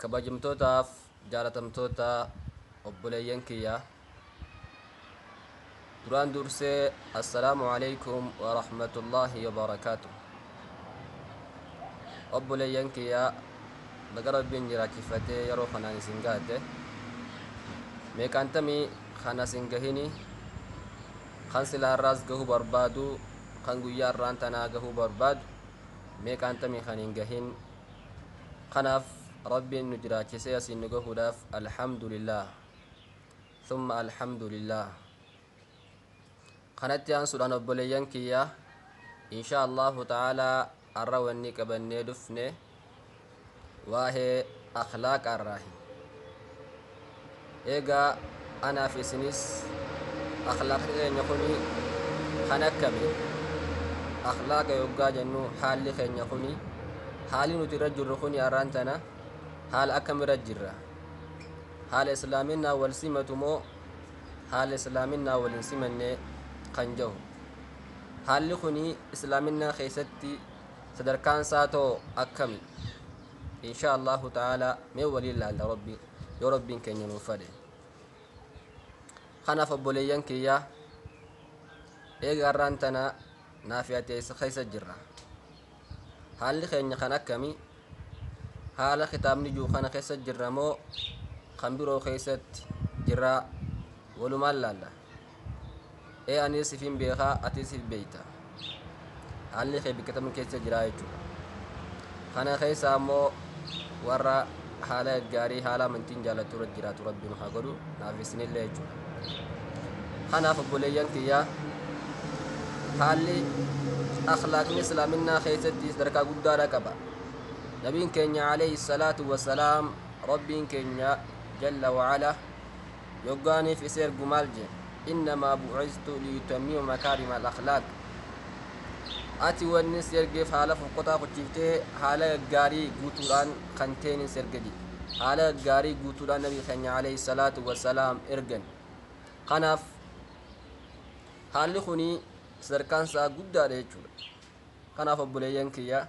Kabajamtootaaf jaalatamtoota obboleeyyan kiyya duraan dursee assalaamu alaikum wa rahmatullaahi wa barakaatu obboleeyyan kiyya baga rabbiin jiraachifatee yeroo kanaan isin gaate meeqaantamii kan asin gahini kan silaa irraas gahuu barbaadu kan guyyaa irraan tanaa gahuu barbaadu meeqaan tamii kan hin gahin kanaaf rabbiin nu jiraachisee asiin nu gahuudhaaf alhamdulillah thumma alhamdulillah kanatti aansuudhaan obboleeyyan kiyya insha allahu ta'aalaa arra wanni qabannee dhufne waahee akhlaaqaarraahi. Eegaa anaa fi isinis akhlaaqni keenya kuni kan akkami? Akhlaaqa yoggaa jennu haalli keenya kuni haalli nuti irra jirru kuni arraan tana haala akkamirra jirra? Haala islaaminaa wal simatu moo haala islaaminaa wal hin simanne kan jahu? Haalli kuni islaaminaa keessatti sadarkaan isaa too akkami insha allahu ta'ala mee waliin laalla rabbi yoo rabbiin keenya nuuf fedhe kanaaf obboleeyyan kiyyaa eega har'aan tana naaf yaaddeessa keessa jirra haalli keenya kan akkami haala kitaabni jiru kana keessa jirra moo kan biroo keessatti jirraa walumaan laalla ee anis sifiin beekaa atis sif beeyta haalli kee bakka tam keessa jiraa jechuudha kana keessa ammoo warra haala gaarii haala amantiin jaallattu irra jiraatu rabbiin haa godhu naaf isinillee jechuudha kanaaf obboleeyyan kiyyaa haalli akhlaaqni islaaminaa keessatti sadarkaa guddaadha qaba nabiin keenya alayhi salaatu wasalaam rabbiin keenya jalla wa'ala Yoggaaniif isa ergu maal jee? Innamaa bu'ithtu liyutammima makaarima al-akhlaaq. Ati wannin si ergeef haala fokkotaa kuchiiftee haala gaggaarii guutuudhaan kan teenin si erge jee. Haala gaggaarii guutuudhaan Nabi keenya alayhi salaatu wassalaam ergan. Kanaaf haalli kuni sadarkaan isaa guddaadha jechuudha. Kanaaf obboleeyyan kiyya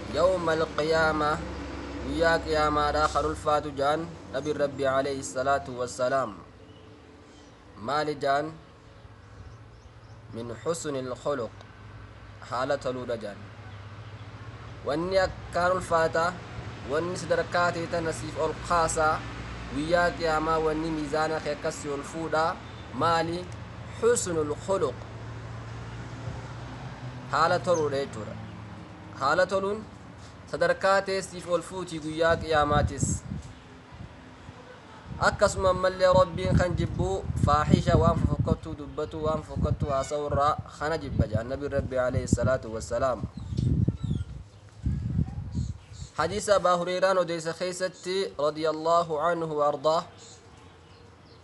Yawmal qiyaamah, Guyyaa Qiyaamaadhaa kan ulfaatu jaan Nabiin Rabbii alayhi salaatu wassalaam. Maali jaan? Min husnil khuluq, haala toluudha jaan. Wanni akkaan ulfaata, wanni sadarkaa tee tana siif ol kaasa, Guyyaa Qiyaamaa wanni miizaana kee akkas si ol fuudha, maali? Husnul khuluq, haala toluudha jechuudha. haala toluun sadarkaa teessiif ol fuuti guyyaa qiyaamaatis. Akkasuma ammallee Rabbiin kan jibbu faahisha waan fofokkattuu dubbatuu waan fofokkattuu haasa'u irraa kana jibba jedhan Nabiin Rabbi alayhi salaatu wassalaam. Hadiisa Abaa Hureyraan odeessa keessatti radiyallahu anhu wa ardaa.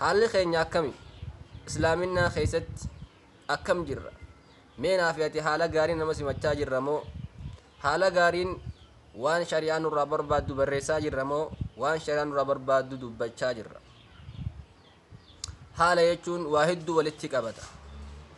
Haalli keenya akkami? Islaaminaa keessatti akkam jirra? Mee naa fi ati haala gaariin nama simachaa jirra moo? Haala gaariin waan shari'aan nurraa barbaaddu barreessaa jirra moo waan shari'aan nurraa barbaaddu dubbachaa jirra? Haala jechuun waa hedduu walitti qabata.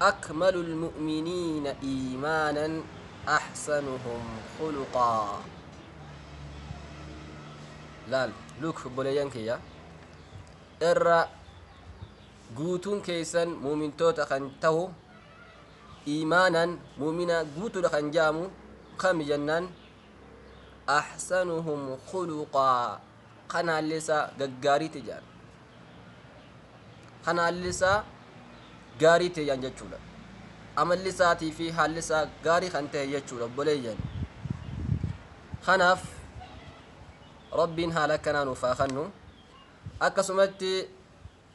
Akmalul mu'miniina iimaanan ahsanuhum khuluqaa Laal, look, obboleeyyan kiyya, irra guutuun keessan mu'mintoota kan tahu iimaanan mu'mina guutuudha kan ja'amu kami jennaan ahsanuhum khuluqaa kan haalli isaa gaggaarii ta'e jedhan kan haalli isaa gaarii ta'e jedhan jechuudha amalli isaatii fi haalli isaa gaarii kan ta'e jechuudha obboleeyyan kanaaf rabbiin haala akkanaa nuuf haa kennu akkasumatti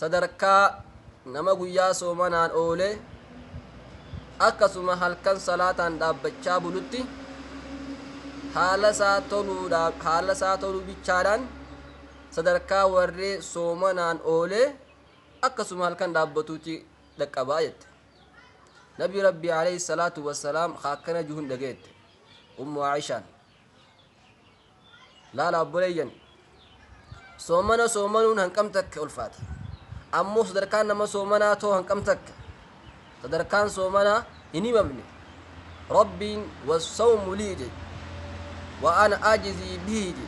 Sadarkaa nama guyyaa soomanaan oolee akkasuma halkan salaataan dhaabbachaa bulutti haala isaa toluudhaan haala isaa toluu bichaadhaan sadarkaa warree soomanaan oolee akkasuma halkan dhaabbatuutti dhaqqabaa jette. Nabi Rabbi alayhi salaatu wassalaam akkana juhun dhageette. Ummu Aishaan. Laala obboleeyyan soomana soomanuun hanqam takka ulfaata. Ammoo sadarkaan nama soomanaa too hanqam takka sadarkaan soomanaa hin himamne. Rabbiin wassawmu lii jedhe. Wa ana ajizii bihi jedhe.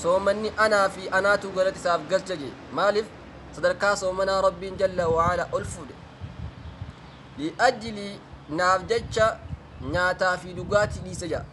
Soomanni anaa fi anaatu galata isaaf galcha jedhe. Maaliif sadarkaa soomanaa Rabbiin jalla wa'ala ol fuudhe. Li'ajilii naaf jecha nyaataa fi dhugaatii dhiise jedha.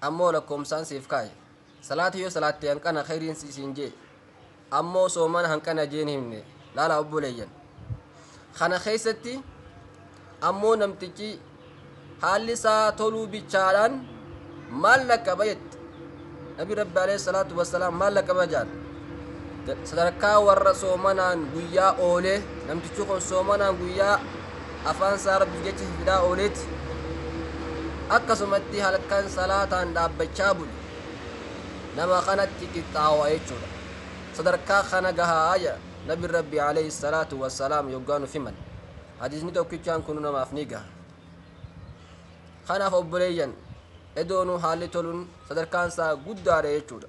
Ammoo lakkoomsaan siif kaaye. Salaata yoo salaatte hanqana khayriin si siin jee. Ammoo soomana hanqana jeen himne. Laala obboleeyyan. Kana keessatti ammoo namtichi haalli isaa toluu bichaadhaan maal lakkaba jette. Nabi Rabbi alayhi salaatu wassalaam maal lakkaba jaan. Sadarkaa warra soomanaan guyyaa oolee, namtichi kun soomanaan guyyaa afaan isaa rabbiif jecha fifidaa ooleeti. Akkasumatti halkan salaataan dhaabbachaa bule. Nama kanatti qixxaawa jechuudha. Sadarkaa kana gahaa jedha Nabiin Rabbii alayhi salaatu wassalaam yoggaa nuuf himan. Hadiisni tokkichaan kunu namaaf ni gaha. Kanaaf obboleeyyan edoonuu haalli toluun sadarkaan isaa guddaadha jechuudha.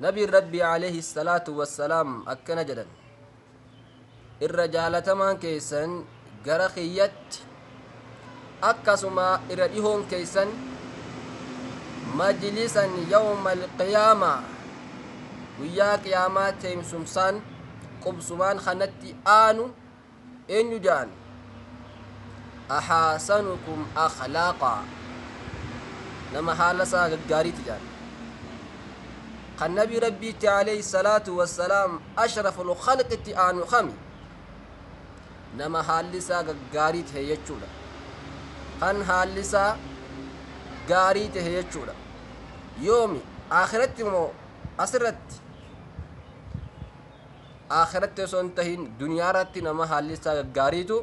Nabiin Rabbii alayhi salaatu wassalaam akkana jedhan irra jaalatamaan keessan gara kiyyatti akkasuma irra dhihoon keessan majlisan yawma alqiyaamaa guyyaa qiyaamaa teemsumsaan qubsumaan kanatti aanu eenyu ja'an ahaasanukum akhlaaqa nama haala isaa gaggaariiti ja'an kan nabii rabbiitti alayhi salaatu wassalaam ashraful khalqitti aanu kami nama haalli isaa gaggaarii ta'e jechuudha kan haalli isaa gaarii ta'e jechuudha yoomi akhiratti moo asirratti aakhiratti osoo hin tahin duniyaarratti nama haalli isaa gaggaariitu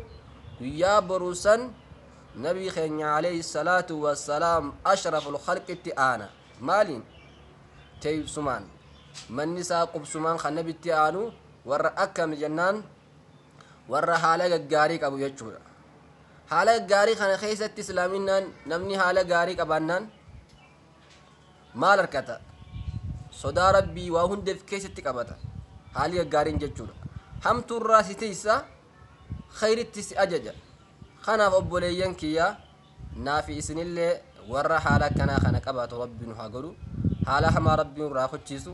guyyaa boruu san nabii keenya alayhi salaatu wassalaam ashraful khalqitti aana maaliin teeysumaan manni isaa qubsumaan kan nabitti aanu warra akkami jennaan warra haala gaggaarii qabu jechuudha haala gaggaarii kana keessatti islaaminaan namni haala gaarii qabaannaan maal harkata? Sodaa Rabbii waa hundeef keessatti qabata. Haalii gaggaariin jechuudha. Hamtuu irraa si tiysa, khayritti si ajaja. Kanaaf obboleeyyan kiyyaa naa fi isinillee warra haala akkanaa kana qabaatu Rabbi nu haa godhu. Haala hamaa Rabbi nurraa kuchiisu.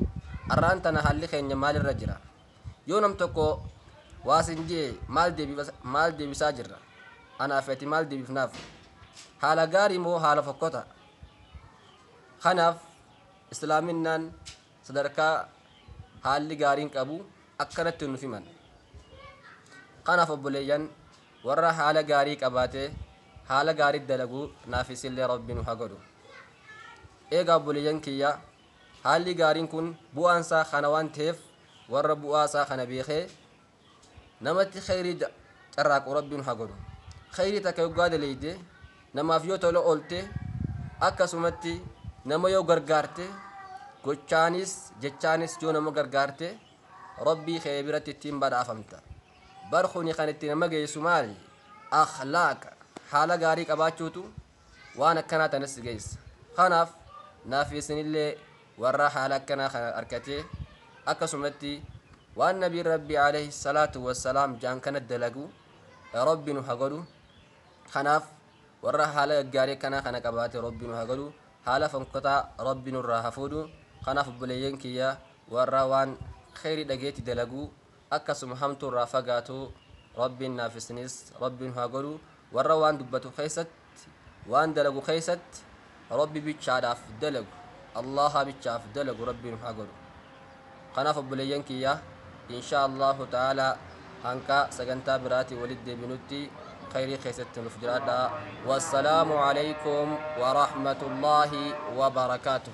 Arraan tana haalli keenya maalirra jira? Yoo nam tokko waa sin jee maal deebibas- maal deebisaa jirra? Anaa fi ati maal deebifnaaf? Haala gaarii moo haala fokkota? Kanaaf Islaaminaan sadarkaa haalli gaariin qabu akkanatti nuuf himan. Kanaaf obboleeyyan warra haala gaarii qabaatee haala gaarii dalagu naaf isillee Rabbi nu haa godhu. Eegaa obboleeyyan kiyya haalli gaariin kun bu'aan isaa kana waan ta'eef warra bu'aa isaa kana beekee Namatti kheeyrii carraaqu Rabbiin ha godhu. Kheeyrii takka yoggaa daleeyde, namaaf yoo tola oolte, akkasumatti nama yoo gargaarte, gochaanis jechaanis yoo nama gargaarte, Rabbii khee biratti ittiin badhaafamta. Bar khuni kan itti nama geeysu maali? Akhlaaqa, haala gaarii qabaachuutu waan akkanaa tana si geessa. Kanaaf naaf isinillee warra haala akkanaa kana arkatee akkasumatti waan nabiin rabbii alayhi salaatu wassalaam jaan kana dalagu rabbi nu hagodhu kanaaf warra haala gaggaarii akkanaa kana qabaate rabbi nu hagodhu haala fonkotaa rabbi nurraa hafuudhu kanaaf obboleeyyan kiyya warra waan kheyri dhageetti dalaguu akkasuma hamtuu irraa fagaatuu Rabbiin naaf isiniis Rabbiin haa godhu warra waan dubbatu keessatti waan dalagu keessatti Rabbi bichaadhaaf dalagu Allaaha bichaaf dalagu Rabbiin haa godhu kanaaf obboleeyyan kiyya inshaa Allaahu ta'aalaa hanqa sagantaa biraatii walitti deebinutti khayrii keessatti nuuf jiraadhaa wassalaamu alaykum wa rahmatullaahi wa barakaatuh